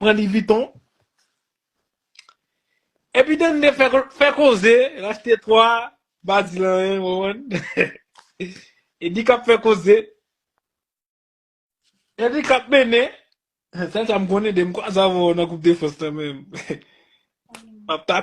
Pran li viton. Epi dende fè koze, rachte 3, pa di l anyen, ou konprann? Edi kap fè koze. Edi kap mennen. Sèl sa m konnen de m kwa sa avè w nan koup defans lan men. Map ta.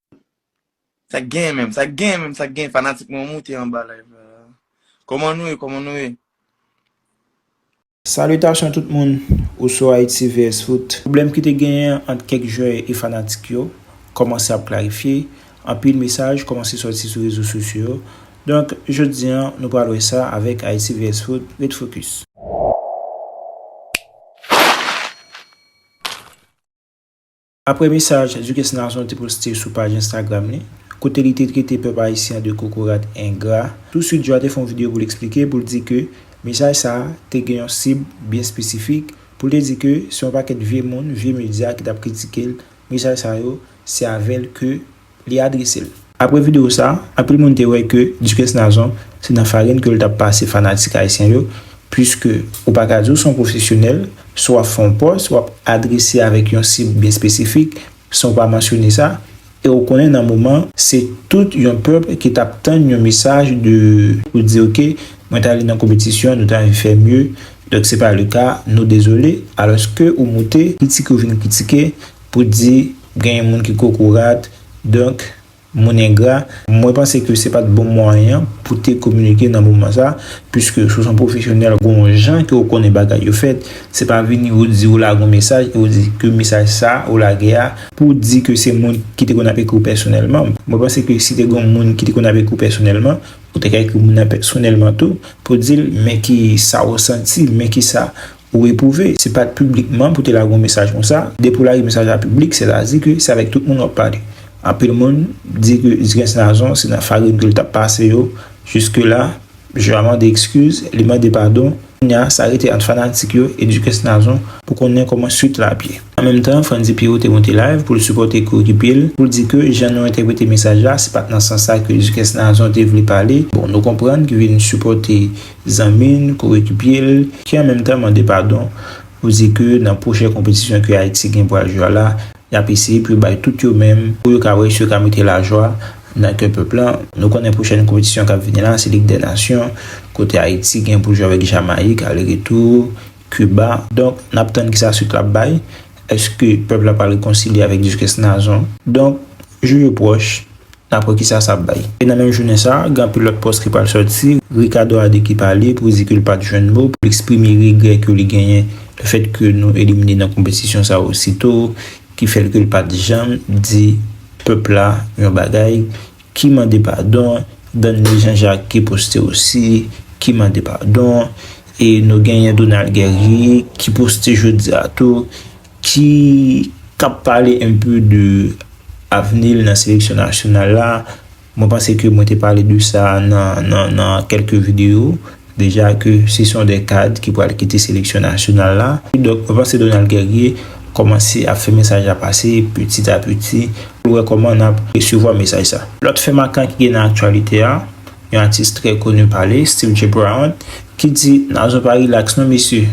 Sak gen menm, sak gen menm, sak gen fanatik mwen moute anba live la. Koman nou ye, koman nou ye? Salutation tout moun ou sou Haïti vs foot. Pwoblèm ki te genyen ant kèk jwè e fanatik yo kòmanse ap klarifye, anpil mesaj kòmanse sòti sou rezo sosyo yo, donk jodi an nou pral wè sa avèk Haïti vs foot, ret focus. Aprè mesaj Duques Nazon te poste sou paj Instagram li, kote li te trete pèp ayisyen de kokorat engra, touswit Joa te fè yon videyo pou l eksplike, pou l di ke mesaj sa a te gen yon sib byen espesifik, pou l te di ke se yon pakèt vye moun, vye medya ki t ap kritike l, mesaj sa yo, se avè l ke. li adrese l. Apre videyo sa, anpil moun te wè ke Duques Nazon se nan farin ke l t ap pase fanatik ayisyen yo, puiske ou pa ka di w se yon pwofesyonèl si w ap fè yon pòs, w ap adrese avèk yon sib byen espesifik san w pa mansyone sa, e ou konnen nan moman. Se tout yon pèp ki t ap tann yon mesaj de. Pou di ok, mwen t ale nan konpetisyon, nou ta fè mye, donk se pa le ka, nou dezole, alòske ou moute. Kritike ou vin kritike pou di. Genyen moun ki kokorat, donk, moun engra. Mwen panse ke se pat bon mwayen pou te kominike nan moman sa, puiske si w son pwofesyonèl gon yon jan ke w konnen bagay yo fèt, se pa vini ou di ou lage yon mesaj e ou di ke mesaj sa ou lage a, pou w di ke se moun ki te konn ap ekri w pèsonèlman, mwen panse ke si te gon moun ki te konn ap ekri w pèsonèlman, ou te ka ekri moun nan pèsonèlman tou, pou w di l men ki sa ou santi, men ki sa Ou epouve, se pat piblikman pou te lage yon mesaj konsa, depi ou lage mesaj la piblik se ta di ke se avèk tout moun wap pale. Anpil moun di ke Dukens Nazon se nan farin ke li tap pase yo, jiske la Jean a mande ekskiz, li mande padon, kounya sa rete ant fanatik yo e Dukens Nazon pou konnen kòman swit la ap ye. An menm tan, Frantzy Pierrot te monte live pou l sipòte koyekipye l, pou l di ke jan nou entèprete mesaj la se pat nan sans sa ke Dukens Nazon te vle pale, bon nou konprann ki vin sipòte Zanmi n kouri ki pye l, ki an menm tan mande padon pou di ke nan pwochen konpetisyon ke Ayiti gen pou al jwe a la, y ap eseye pou yo bay tout yo menm pou yo ka wè si yo ka mete lajwa nan kè pèp lan. Nou konnen pwochèn konpetisyon k ap vini la se Lig dè Nasyon kote Ayiti gen pou jwe avèk Jamayik ale retou, Kiba. Donk n ap tann kisa suit la ap bay. Èske pèp la pral rekonsilye avèk Dikès Nazon? Donk jou yo pwòch. Dapre kisa sa ap bay? E nan menm jounen sa, gen anpil lòt pòs ki pral sòti, Ricardo Adé ki pale pou di ke li pat jwenn mo pou li eksprime regrè ke li genyen le fèt ke nou elimine nan konpetisyon sa osito, ki fè l ke li pat janm di pèp la yon bagay, ki mande padon, Danley Jean Jacques ki poste osi, ki mande padon, e nou genyen Donald Guerrier ki poste jodi a tou, ki kap pale un peu de avni l nan seleksyon nasyonal la, mwen panse ke mwen te pale de sa nan kelke video deja ke se son de kad ki pral kite seleksyon nasyonal la, donk mwen panse Donald Guerrier komanse ap fè mesaj la pase petit a petit pou l wè koman nap resevwa mesaj sa. Lot fè makan ki gen nan aktyalite a, yon atis trè koni pale, Steve J. Brown, ki di Nazon pa relax non mesye.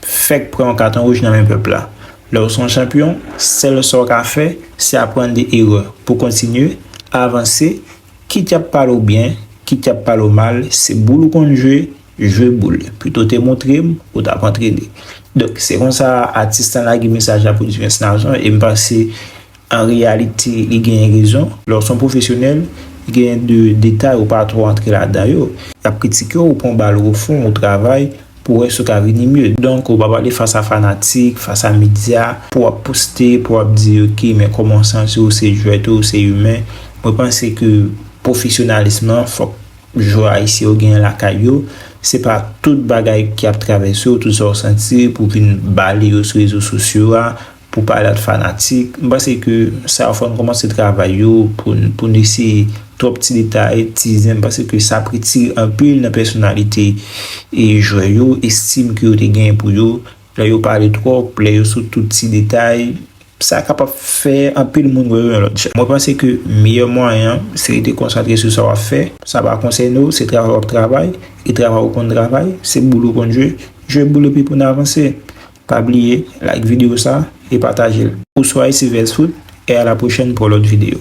Fèk pran yon katon wouj nan men pèp la. Lè w se yon chanpyon, sèl sa w ka fè, se aprann de erè pou w kontinye, avanse, kit y ap pale w byen, kit y ap pale w mal, se boul ou konn jwe, jwe boul, pito w te montre m, ou t ap antrene. Donk, se konsa atis lan lage mesaj la pou Divens Nazon e m panse An reyalite, li genyen rezon. Lè w s on pwofesyonèl, genyen de detay ou pa twò antre ladan yo. Y ap kritike w, ou pran bal o fon, ou travay pou w wè si w ka vini mye. Donk, ou pa pale fas a fanatik, fas a medya, pou w ap poste, pou w ap di yo ki men kòman w santi w, se jwèt ou, se imen. Mwen panse ke pwofesyonalism lan fòk jwè ayisyen yo genyen lakay yo. Se pa tout bagay ki ap travèse w, tout sa w santi pou w vin bale yo sou rezo sosyo a. Pou pale ak fanatik, m panse ke sa yo fò n kòmanse travay yo pou n pou n eseye twòp ti detay, ti zen m panse ke sa ap retire anpil nan pèsonalite e jwè yo, estim ke yo te genyen pou yo, lè yo pale twòp, lè yo sou tout ti detay, sa kapab fè anpil moun wè yo yon lòt jan. Mwen panse ke meyè mwayen an se rete konsantre sou sa w ap fè, sa pa konsène w, se travay w ap travay e travay w konn travay, se boule w konn jwe, jwe boule pi pou n avanse. Pa bliye like video sa e patajel. Ou sou Haïti Vès Foot e a la prochèn pou lòt video.